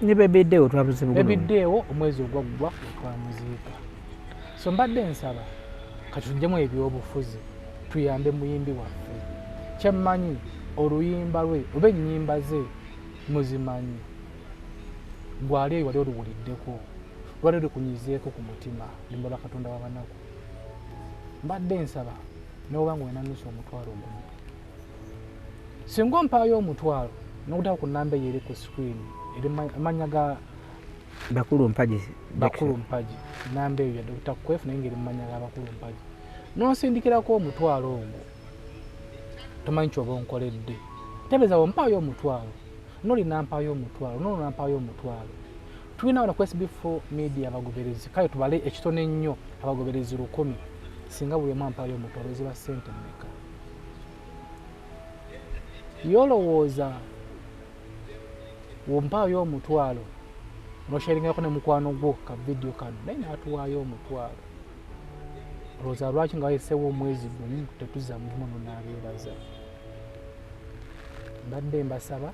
nebebiddeewo twabuzibebiddeewo omwezi ogwaggwa twamuziika so mbadde nsaba katujjemu ebyobufuzi tuyambe muyimbi waffe kyemmanyi oluyimba lwe oba ennyimba ze muzimanyi gwali eyo wali oluwuliddeko lwali lukunyizeeko ku mutima nemulwa katonda wabanaku mbadde nsaba noba nga wenanusa omutwalo ogumu singa ompaayo omutwalo nokutaba ku namba eyo eri ku screen eri amanya ga bakulu mpagi bakulu mpagi namba eyo ya dr kwef naye ngaeri mumanya ga bakulu mpagi nonsindikirako omutwalo ogwo tomanyi kyoba onkoledde tebezawo mpaayo omutwalo nolinampaayo omutwalo nolunampaayo omutwalo tulina wano ku sb4 media abagoberezi kale tubale ekitone ennyo abagoberezi lukumi singa buli omu ampayo omutwalo ziba sente mmeka yolowooza wompaayo omutwalo nosheringako ne mukwano gwo ka vidiyo kano naye natuwaayo omutwalo olowooza lwaki nga wayesewo omwezi gumu tetuzza mulimu nonabeebaza mbadde mbasaba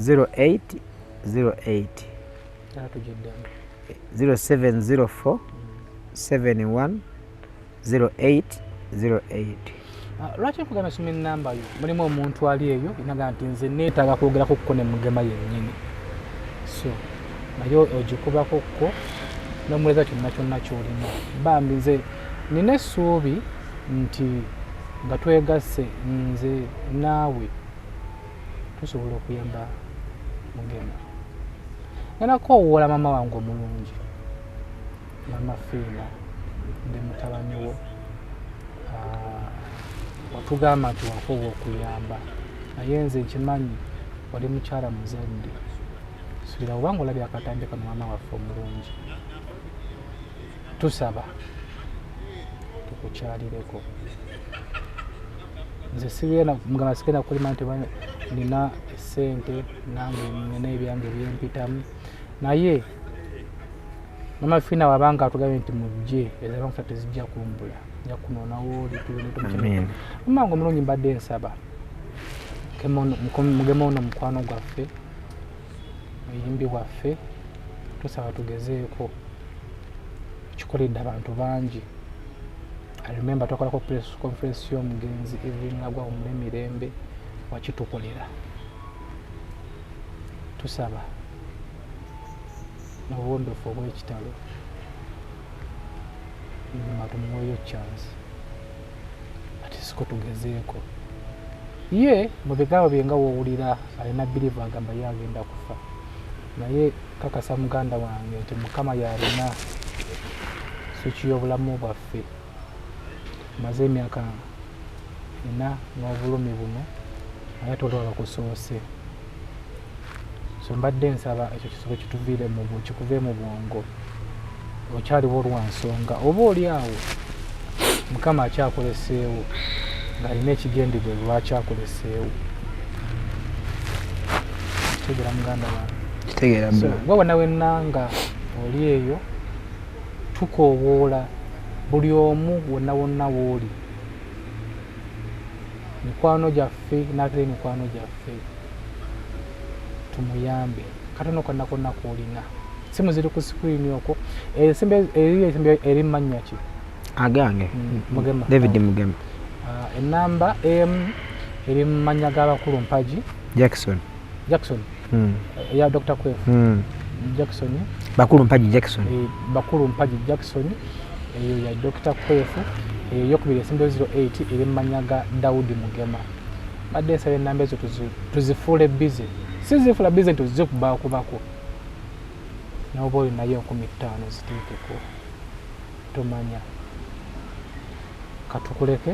0808 0704 71 0808 lwaki nkugamba soma enamba yo mulimu omuntu ali eyo inaga nti nze neetaaga kwogerako kuko ne mugema yennyini so naye ogikubako kuko nomuleza kyonna kyonna kyolina bambi nze nina essuubi nti nga twegasse nze naawe tusobola okuyamba mugema nanakoowoola mama wange omulungi mama fiina ndi mutabani wo ah, watugamba nti wakoowa okuyamba naye nze nkimanyi wali mukyala muzadde subira obanga olabye akatambi kano mama waffe omulungi tusaba tukukyalireko nze sigenda mugamba sigenda kulima nti nina esente nange nina ebyange byempitamu naye mama fina wabanga atugambye nti mujje ezabankusa tezijja kumbula nja kunonawooli tumaanga omulungi mbadde nsaba mugema ono mukwano gwaffe muyimbi bwaffe tusaba tugezeeko kikoledde abantu bangi I remember twakolako press conference y'omugenzi Evelyn Lagwa omule mirembe wakitukolera tusaba n'obuwombefu obw'ekitalo nyuma tumuweeyo chance ati siko tugezeeko ye mu bigambo bye nga woowulira alina birivu agamba ye agenda kufa naye kakasa muganda wange nti mukama yalina swiki y'obulamu bwaffe maze emyaka ena n'obulumi buno naye ate olwaba kusoose so mbadde nsaba ekyo kisobe kituviire kikuve mu bwongo okyaliwo lwa nsonga oba oli awo mukama akyakoleseewo ng'alina ekigendebwe lwaki akoleseewo kitegeera muganda wange kitegeera waba nawe nanga oli eyo tukoowoola buli omu wonna wonna wooli mikwano gyaffe n'atera emikwano gyaffe tumuyambe katono konna konna kuolina simu ziri ku screen okwo esimbe eri esimbe eri manya ki agange mm, mugema david mugema ah, enamba em eri manya ga bakulu mpaji jackson jackson mm. ya dr kwef mm. jackson bakulu mpaji jackson e, bakulu mpaji jackson eyo ya dr kwef eyokubiri esimbe 08 eri manya ga daudi mugema badde nsaba enamba ezo tuzifuule bize sizifula bize nti ozze kubakubako noba oyo naye enkumi ttaano ziteekeko tomanya katukuleke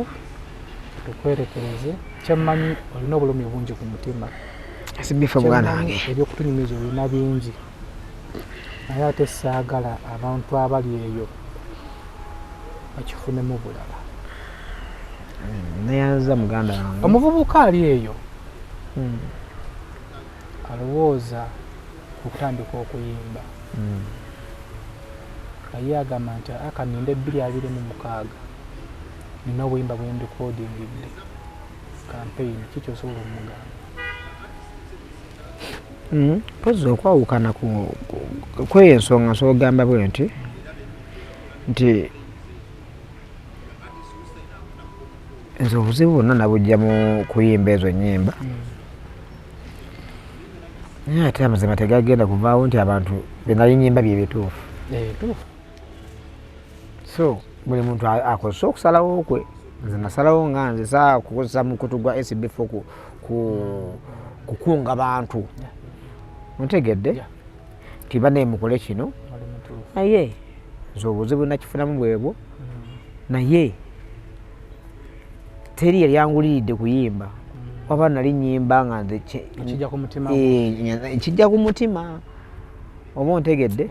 tukwerekereze kyemmanyi olina obulumi bungi ku mutima sibifa mwana wange ebyokutunyumiza olina bingi naye ate saagala abantu abali eyo bakifunemu bulala neyanza muganda wange omuvubuka ali eyo hmm. alowooza okutandika okuyimba hmm. aye agamba nti akaninde ebbiri abiri mu mukaaga nina obuyimba bwendikodingidde kampeyini kiki osobola omugamba hmm. mpozi okwawukana kweyo ensonga nsogamba bwe nti nti nze obuzibu bonna nabujja mu kuyimba ezo nyimba mm. naye ate amazima tegagenda kuvaawo nti abantu benali nyimba byebituufu eh, so buli muntu akozesa okusalawo kwe nze nasalawo nga nze saa kukozesa mukutu gwa sbf kukunga bantu ntegedde tibanaye mukole kino naye nze obuzibu nakifunamu bwebwo naye teri yali anguliridde kuyimba mm. waba nali nyimba nga nze kijja ku mutima eh, oba ontegedde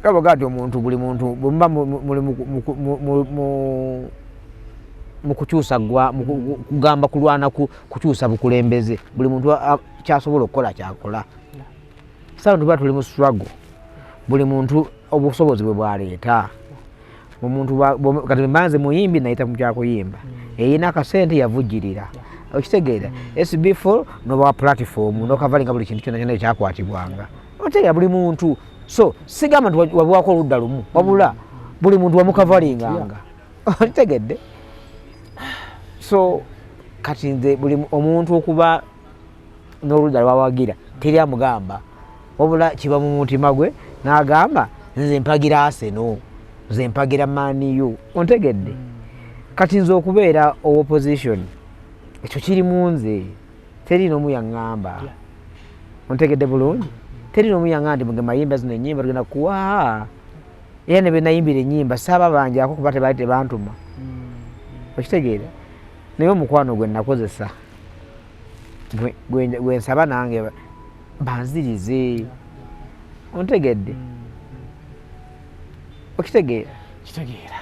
kabaga ti omuntu buli muntu bwemuba muli mukukyusa gwa kugamba kulwana kukyusa bukulembeze buli muntu kyasobola okukola kyakola sawa tuba tuli mu struggle buli muntu obusobozi bwe bwaleeta omuntu kati mbanze muyimbi nayita mu byakuyimba eyina akasente yavujjirira okitegeera sbful nobawa platform nokavalinga buli kintu kyona kyona ekyakwatibwanga otegeera buli muntu so sigamba nti wabiwako oludda lumu wabula buli muntu wamukavaringanga okitegedde so kati nze buli omuntu okuba n'oludda lwawagira teri amugamba wabula kiba mu mutima gwe n'agamba nze mpagira aseno nze mpagira maniu ontegedde mm. kati nze okubeera owoposition ekyo kiri mu nze teri n'omu yaŋŋamba ontegedde bulungi teri n'omu yaŋŋamba nti muge mayimba zino ennyimba tugenda kuwa era ne benayimbira ennyimba saaba banjako kuba tebali tebantuma mm. okitegeera naye omukwano gwe nakozesa gwe nsaba nange banzirize ontegedde mm. okitegeera kitegeera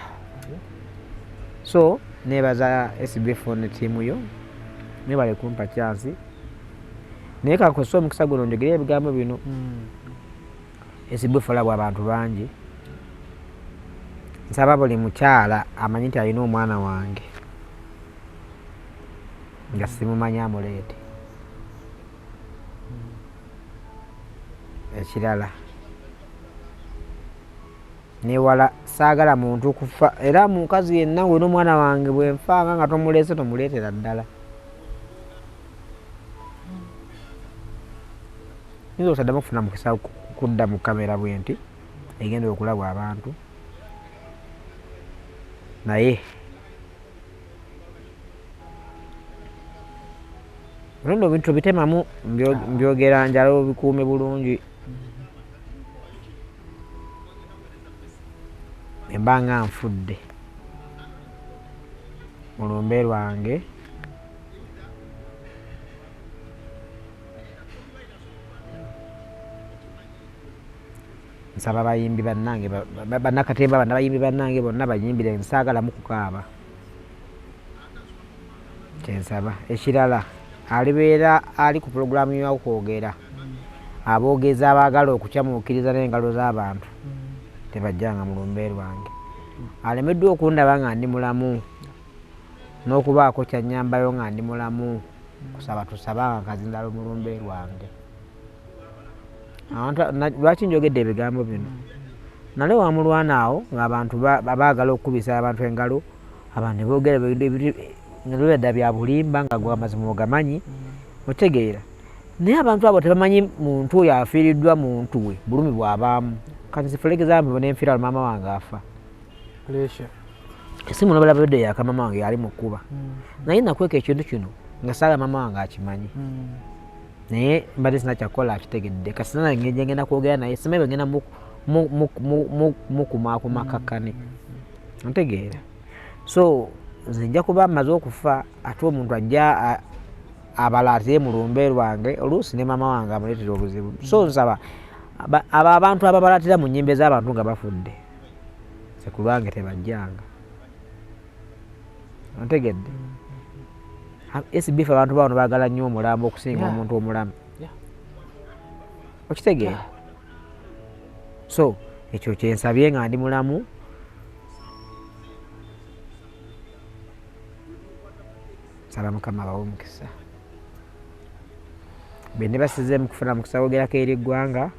so nebaza sbfon tiimu yo nebale kumpa kyansi naye kakose omukisa guno njogere ebigambo bino mm. esibufala bwa bantu bangi nsaba buli mukyala amanyi nti alina omwana wange nga simumanyi amuleete ekirala newala saagala muntu kufa era mukazi yenna wena omwana wange bwenfanga nga tomuleese tomuleetera ddala nze osaddamu okufuna mukisa kudda mu kamera bwenti egenda okulabwa abantu naye olonda obintu bitemamu mbyogera njala obikuume bulungi emba nga nfudde mu lumbe lwange nsaba bayimbi bannange bannakatemba banna bayimbi bannange bonna bayimbire nsaagalamu kukaaba kyensaba ekirala alibeera ali ku pulogulaamu yokwogera aboogezi abaagala okukyamuukiriza n'engalo z'abantu tebajjanga mu lumbe lwange alemeddwa okundaba nga ndi mulamu n'okubaako kyannyambayo nga ndi mulamu kusaba tusaba nga kazindala omulumbe lwange lwaki njogedde ebigambo bino nale wamulwana awo ngaabantu baagala okukubisa abantu engalo abantu boogera nebeda bya bulimba nga gwe amazima ogamanyi otegeera naye abantu abo tebamanyi muntu oyo afiiriddwa muntu we bulumi bwabaamu kati nzifulegezambo nenfiraalo maama wange afa pressure esimu nobala bede ya kama mangi ali mukuba mm. na ina kweke chindu chino ngasala mama wange akimanyi mm. naye mbadde sina kyakukola akitegedde kasina ngeje ngenda kwogera naye sima ebyo ngenda mukumakuma mm. kakkane mm. ntegeera so nze nja kuba amaze okufa ate omuntu ajja abala ate mu lumbe lwange oluusi ne mama wange amuleetera obuzibu so nsaba abo abantu ababalatira mu nyimba ez'abantu nga bafudde sekulwange tebajjanga ontegedde sbf abantu bawano bagala nnyo omulambo okusinga omuntu omulamu okitegeera so ekyo kyensabye nga ndi mulamu saba mukama bawe omukisa bende basize mukufuna mukisa wogerako eri eggwanga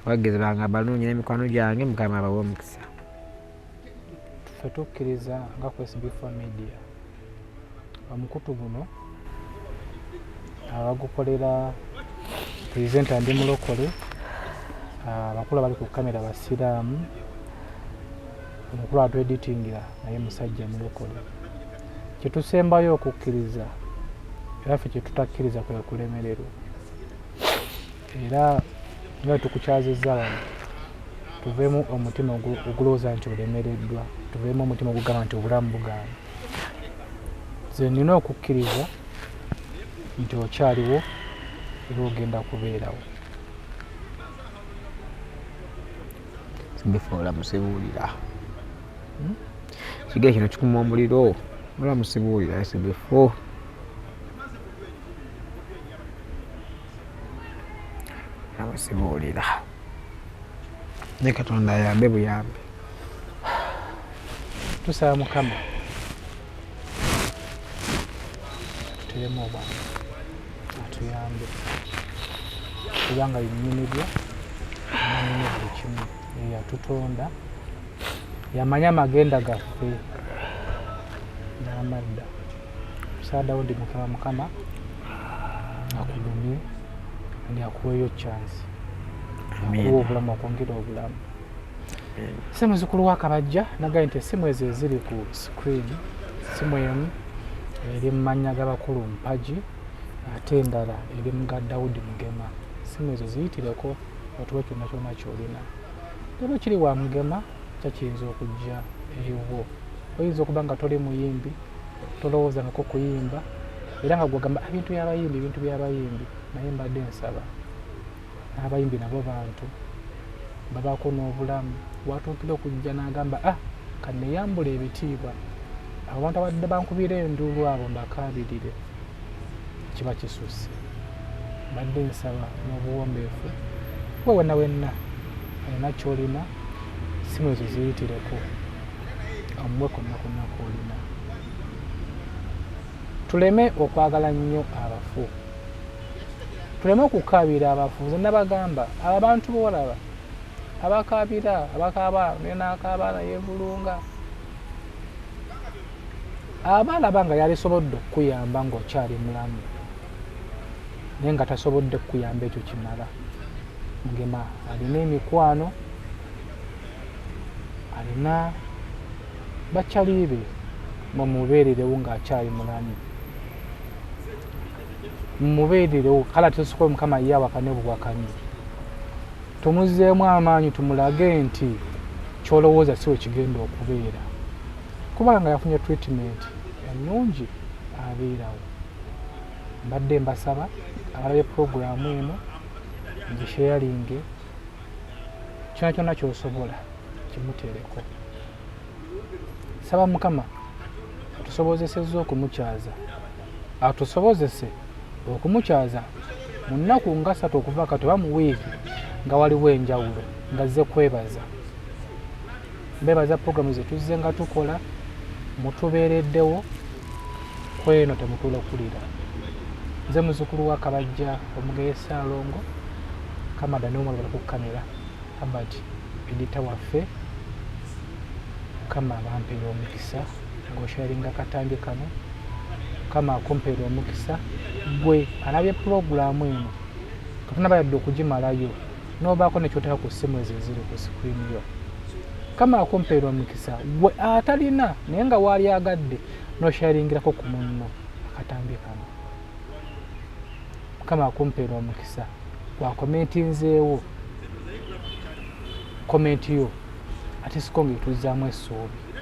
abagizi bange abalungi n'emikwano gyange mukama abawe omukisa ffe tukkiriza nga kwesbf media omukutu guno abagukolera presenta ndi mulokole abakulu abali ku kamera basiraamu omukulu atweditingira naye musajja mulokole kyetusembayo okukkiriza era ffe kyetutakkiriza kwekulemererwa era nga tukukyazizza wano tuveemu omutima ogulowooza nti olemereddwa tuveemu omutima ogugamba nti obulamu bugaana ze nina okukkiriza nti okyaliwo era ogenda kubeerawo bifa olamusibuulira hmm? kiga kino kikuma omuliro olamusibuulira ese bifo nabo sibuulira ne katonda ayambe buyambi tusaba mukama tuteremu obwana atuyambe kubanga binyumibwa amanyumu buli kimu eyatutonda yamanya amagenda gaffe n'amadda musaadawo ndi mukama mukama akugumye ndi akuweeyo chance akuwa obulamu akwongera obulamu si muzukulu wa kabajja nagaye nti esimu ezo eziri ku screen simu emu eri mu mannya g'abakulu mpagi ate endala eri mu ga dawudi mugema simu ezo ziyitireko otuwe kyonna kyonna kyolina era okiri wa mugema kyakiyinza okujja eriwo oyinza okuba nga toli muyimbi tolowooza nako kuyimba era nga gwegamba ebintu byabayimbi ebintu byabayimbi naye mbadde nsaba n'abayimbi nabo bantu babaako n'obulamu watuukira okujja n'agamba ah kaneyambula ebitiibwa abantu abadde bankubira enduulu abo mbakaabirire kiba kisusse mbadde nsaba n'obuwombeefu kuba wenna wenna alina kyolina simu ezo ziyitireko omuwe konna konna kwolina tuleme okwagala nnyo abafu tuleme okukaabira abafu nze nabagamba abo abantu boolaba abakaabira abakaaba nakaaba nayevulunga aba alaba nga yalisobodde okukuyamba ng'okyali mulamu naye nga tasobodde kukuyamba ekyo kimala mugema alina emikwano alina bakyaliibe mumubeererewo ng'akyali mulamu mumubeererewo kale atesokola mukama ye awakane buwakanyi Tumuzzeemu amaanyi tumulage nti ky'olowooza si we kigenda okubeera kuba nga yafunye treatment ennungi abeerawo. Mbadde mbasaba abalabye pulogulaamu eno mugisheyalinge kyona kyona kyosobola kimuteereko saba mukama atusobozesezza okumukyaza atusobozese okumukyaza mu nnaku nga ssatu okuva kati oba mu wiiki nga waliwo enjawulo nga zze kwebaza mbebaza puroguramu zetuzze nga tukola mutubeereddewo kweno temutula okulira nze muzukulu wa kabajja omugeye saalongo kamada nomwala bali kukamera abert edita waffe kama abampera omukisa nga osharinga katambi kano kama akumpere omukisa gwe alabye pulogulaamu eno kafuna bayadde okugimalayo nobaako nekyoteka ku ssimu ezo eziri ku sikrini yo kama akumpeera omukisa gwe atalina naye nga waali agadde nosharingirako ku munno akatambi kano mukama akumpeera omukisa gwakomenti nzeewo komenti yo ate siko nga etuzzaamu essuubi